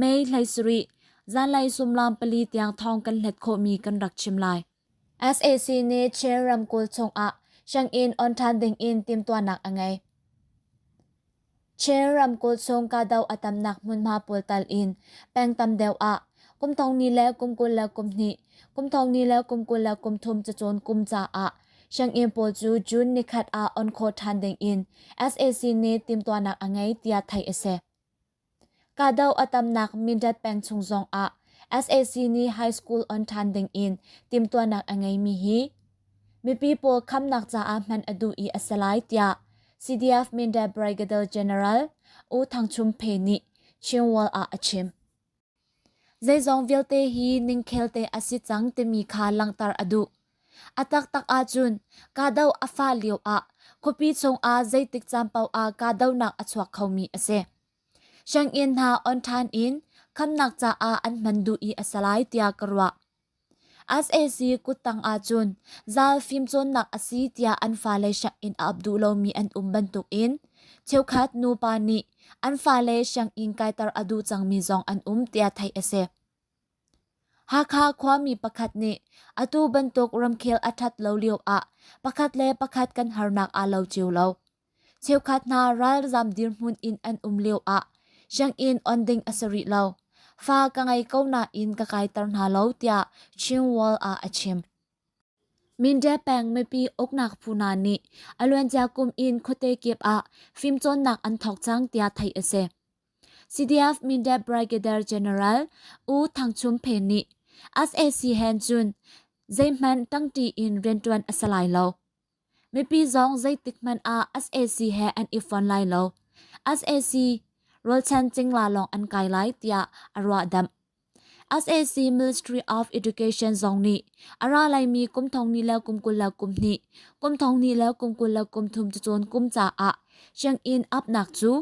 May hlei sarih, zanlei sumlam pali tiang thawng kan hlet khawhmi kan rak chim lai. SAC nih Chin ramkulh chungah Shangin on than dingin timtuanak a ngei. Chin ramkulh chung kahdoh a tamnak hmunhma pawl tal in pengtam deuh ah kumthong ni le kumkul le kumhnih, kumthong ni le kumkul le kumthum cacawn kum caah Shangin pawl cu June nikhat ah on khaw than dingin SAC nih timtuanak a ngei tiah theih a si. Kahdoh a tamnak Mindat peng chung zongah sac nih high school on ṭhan dingin timhtuahnak a ngeimi hi mipi pawl khamnak caah hman a duh i a si lai tiah CDF Mindat Brigadier General U Thang Chum Phe nih Chinwall ah a chim. Zeizong vialte hi ningkhel te a si cang timi kha langhter a duh. A taktak ahcun kahdo a fah lio ah khuapi chungah zeitik caan paoh ah kahdonak a chuak khomi a si. Sianginn hna on ṭhan in khamnak caah an hman duh i a si lai tiah ka ruah. sac kuttang ahcun zaal fimcawnnak a si tiah an fale sianginn a ap duh lomi an um bantukin cheukhat nupa nih an fale sianginn kaiter a duh cangmi zong an um tiah theih a si. Hakha khuami pakhat nih atu bantuk ramkhel a ṭhat lo lioah pakhat le pakhat kan harnak aa lo cio lo. Cheukhat hna ralzam dirhmun in an um lio ah sianginn on ding a si rih lo. Fa ka ngei ko nain ka kaiter hna lo tiah Chinwall ah a chim. Mindae peng mipi uknak phu hna nih a luancia kum in khuate kip ah fimcawnnak an thawk cang tiah theih a si. CDF Mindae Brigadier General U Thang Chum Phe nih SAC hen cun zeihmanh tangti in riantuan a si lai lo. Mipi zong zeitik hmanh ah SAC he an i fon lai lo. SAC rolchan cingla lawng an kai lai tiah a ruahdamh. SAC Ministry of Education zong nih a ra laimi kum thongni le kum kul le kum hnih, kum thongni le kum kul le kum thum cun kum caah check-in upnak cu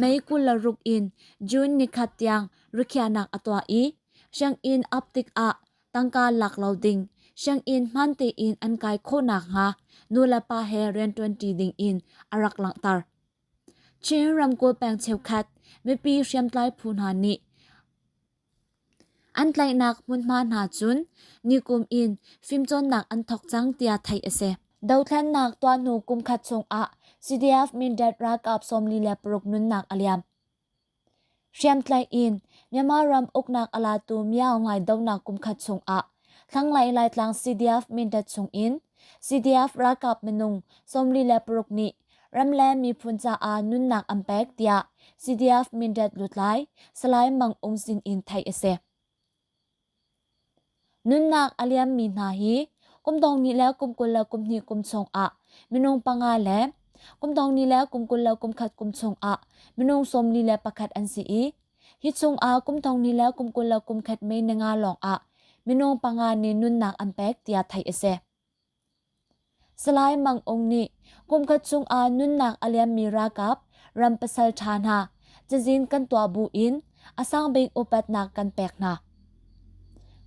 May kul le ruk in June ni khat tiang rikhiahnak a tuah i check-in up tikah tangka lak lo ding sianginn hman tein an kai khawhnak hnga nulepa he rian ṭuanṭi ding in a rak langhter. Chin ramkulh peng cheukhat mipi hriamtlai phu hna nih an tlaihnak hmunhma hna cun nikum in fimcawnnak an thawk cang tiah theih a si. Dothlennak tuahnu kumkhat chung ah CDF Mindat ralkap sawmli le paruk nunnak a liam. Hriamtlaih in Myanmar ram uknak a latu Myaung ngaidohnak kumkhat chungah thlanglei Laitlang CDF mindat chungin CDF ralkap minung sawmli le paruk nih ram le miphun caah nunnak an pek tiah CDF mindat lutlai Salai Mang Ung Sin in theih a si. Nunnak a liammi hna hi kum dong ni le kum kul le kum hnih kum chung ah minung panga le kum dong ni le kum kul le kum khat kum chung ah minung sawmli le pakhat an si i hi chung ah kum dong ni le kum kul le kum khat mei ninga lawng ah minung panga nih nunnak an pek tiah theih a si. Salai Mang Ung nih kumkhat chungah nunnak a liammi ralkap ram pasal ṭha hna cazin kan tuah bu in a sangbik upatnak kan pek hna.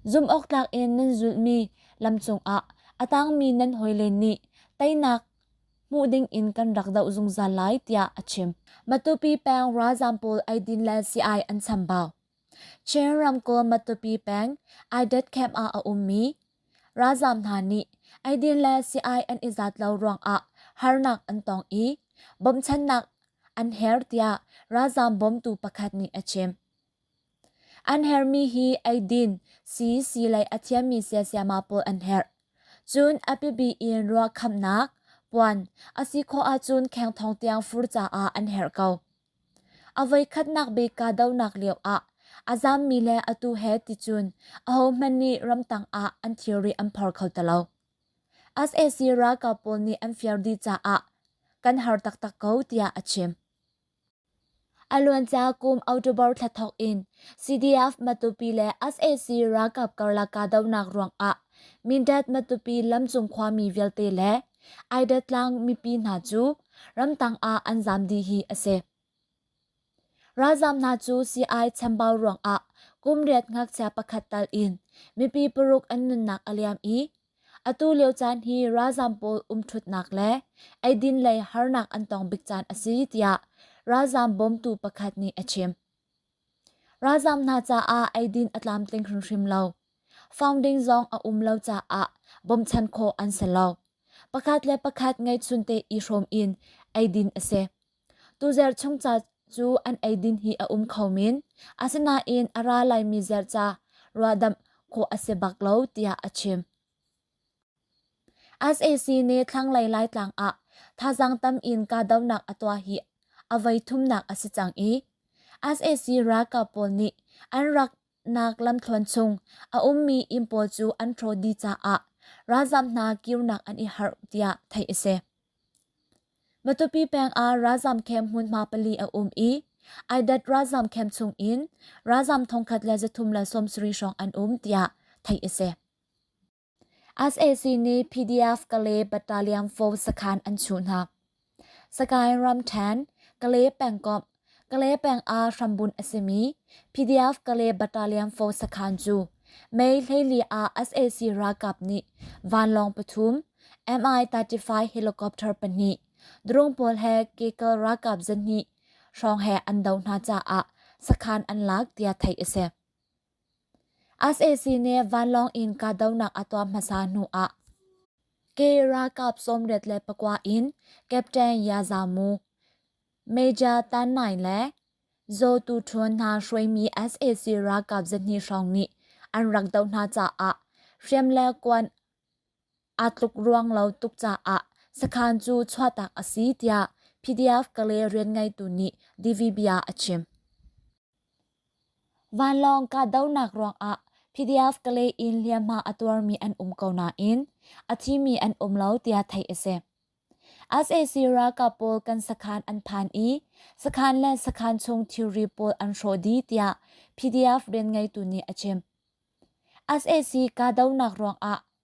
Zumhawktlak in nan zulmi lam cungah a tangmi nan hawile nih teinak hmuh ding in kan rak doh zungzal lai tiah a chim. Matupi peng ralzam pawl ai din le CI an chambau. Chin ramkul Matupi peng Aidat camp ah a ummi Ralzam hna nih eidin le si-ai an i zat lo ruangah harnak an tong i bawmchannak an her tiah ralzam bawmtu pakhat nih a chim. An hermi hi eidin, si, si lei a thiammi siasiama pawl an herh. Cun a pipi in ruah khamnak, puan, a si khawh ahcun kheng thong tiang fur caah an herh ko. A voikhatnak bik kahdohnak lioah a zammi le atu he ticun ahohmanh nih ramtang ah an thilri an phor kho ti lo. SAC ralkap pawl nih an fiar dih caah kan har taktak ko tiah a chim. A luancia kum October thla thawk in CDF Matupi le SAC ralkap karlak kahdohnak ruangah Mindat Matupi lamcung khuami vialte le Aida tlang mipi hna cu ramtang ah an zam dih hi a si. Ralzam hna cu sii-ai chambau ruangah kum riat ngakchia pakhat tal in mipi paruk an nunnak a liam i atu lio caan hi ralzam pawl umthutnak le eidin lei harnak an tong bik caan a si tiah ralzam bawmtu pakhat nih a chim. Ralzam hna caah eidin a tlamtling hrimhrim lo. Founding zong a um lo caah bawmchan khawh an si lo. Pakhat le pakhat ngeihchun te i hrawm in eidin a si. Tuzer chung ca cu an eidin hi a um kho min. Asinain a ra laimi ziarca ruahdamh khawh a si bak lo tiah a chim. sac nih thlanglei laitlang ah thazaang tam in kahdohnak a tuah hi a voithumnak a si cang i sac ralkap pawl nih an raknak lamthluan chung a ummi inn pawl cu an ṭhaw dih caah ralzam hna kirnak an i harh tiah theih a si matupi peng ah ralzam camp hmunhma pali a um i aidat ralzam camp chung in ralzam thongkhat le zathum le sawmsarih hrawng an um tiah theih a si sac nih PDF-Kale battalion four sakhan an chuhnak. Sagaing ramthen, Kale pengkomh, Kale peng ah hrambun a simi PDF-Kale battalion four sakhan cu Mei hleili ah sac ralkap nih vanlawng pathum MI-35 helicopter pahnih drone pawl he Kekal ralkap zahnih hrawng he an doh hna caah sakhan an lak tiah theih a si. sac nih vanlawng in kahdohnak a tuah hmasa hnuah ke ralkap sawmriat le pakua in captain yazamu major tan nai le zawtu ṭhawn hna hruaimi sac ralkap zahnih hrawng nih an rak doh hna caah hriam le kuan aa tluk ruang lo tuk caah sakhan cu chuahtak a si tiah PDF Kalay rianngeitu nih DVBia a chim. Vanlawng kahdohnak ruangah PDF Kalay in hliamhma a tuarmi an um ko nain a thimi an um lo tiah theih a si. SAC ralkap pawl kan sakhan an phan i sakhan le sakhan chung thilri pawl an hrawh dih tiah PDF rianngeitu nih a chim. SAC kahdohnak ruangah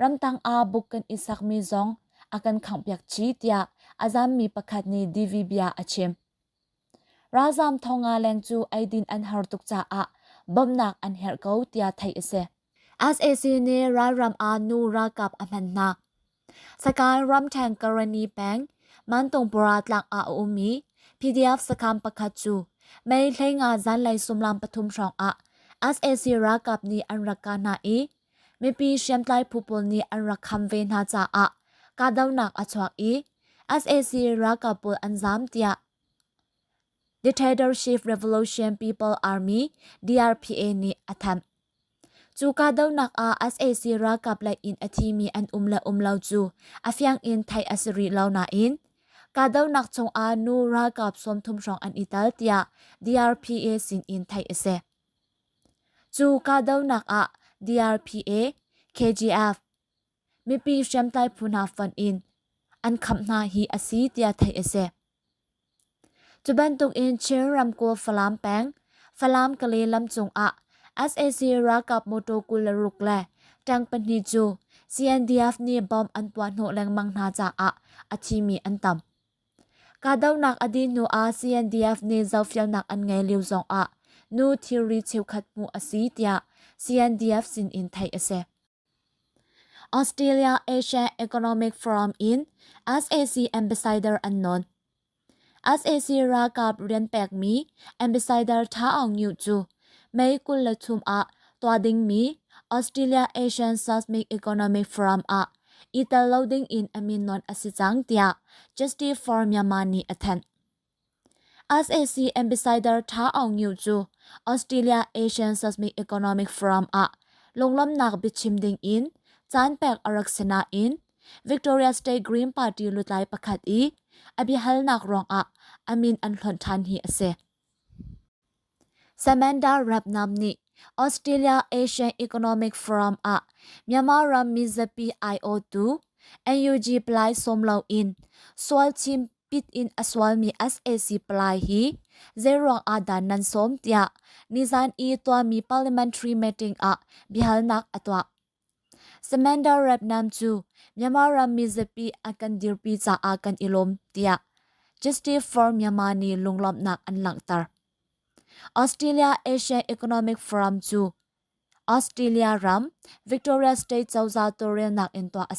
Ramtang ah book kan i sakmi zong a kan khanghpiak chih tiah a zaammi pakhat nih DV bia a chim. Ralzaam thong nga leng cu eidin an har tuk caah bawmnak an herh ko tiah theih a si. SAC nih ralram ah nu ralkap a hman hna. Sakai ramthen karani peng mantongpura tlak ah a ummi PDF sakam pakhat cu Mei hleinga zanlei sumlam pathum hrawng ah SAC ralkap nih an rak ka hna i mipi hriamtlai phu pawl nih an rak kham ve hna caah kahdohnak a chuak i sac ralkap pawl an zaam tiah dictatorship revolution people army drpa nih a thanh cu kahdohnak ah sac ralkap lei in a thimi an um le um lo cu a fiang in theih a si rih lo nain kahdohnak chung ah nu ralkap sawm thum hrawng an i tel tiah drpa sin in theih a si Cu kahdohnak ah DRPA, KGF, mipi hriamtlai phu hna fon in an khamh hna hi a si tiah theih a si. Cu bantuk in Chin ramkulh Falam peng, Falam-Kale lam cung ah SAC ralkap motor kul le ruk le tank pahnih cu CNDF nih bomb an puah hnawh lengmang hna caah a thi mi an tam. Kahdohnak a dih hnuah CNDF nih zohfelnak an ngei lio zongah nu thilri cheukhat hmuh a si tiah CNDF sinin theih a si. Australia Asia Economic Forum in SAC ambassador an nawn. SAC ralkap rian pekmi ambassador Tha Aung Nyu cu May kul le thum ah tua dingmi Australia Asian Seismic Economic Forum ah i tel lo ding in a min non a si cang tiah Justice for Myanmar nih a thanh. SAC ambassador Tha Aung Nyu cu Australia Asian Seismic Economic Forum ah lunglomnak biachim ding in caan pek a rak si nain Victoria State Green Party lutlai pakhat i a biahalnak ruangah a min an hlonh ṭhan hi a si. Samantha Rapnam nih Australia Asian Economic Forum ah Myanmar ram mizapi aiawhtu NUG palai sawm loin sual chimpit in a sualmi sac palai hi zeiruang ahdah nan sawm tiah nizan i tuahmi parliamentary meeting ah biahalnak a tuah. Samantha Repnam cu Myanmar ram mizapi a kan dirpi caah kan i lawm tiah Justice for Myanmar nih lunglawmhnak an langhter. Australia Asian Economic Forum cu Australia ram Victoria State cozah tawlrelnak in tuah a si.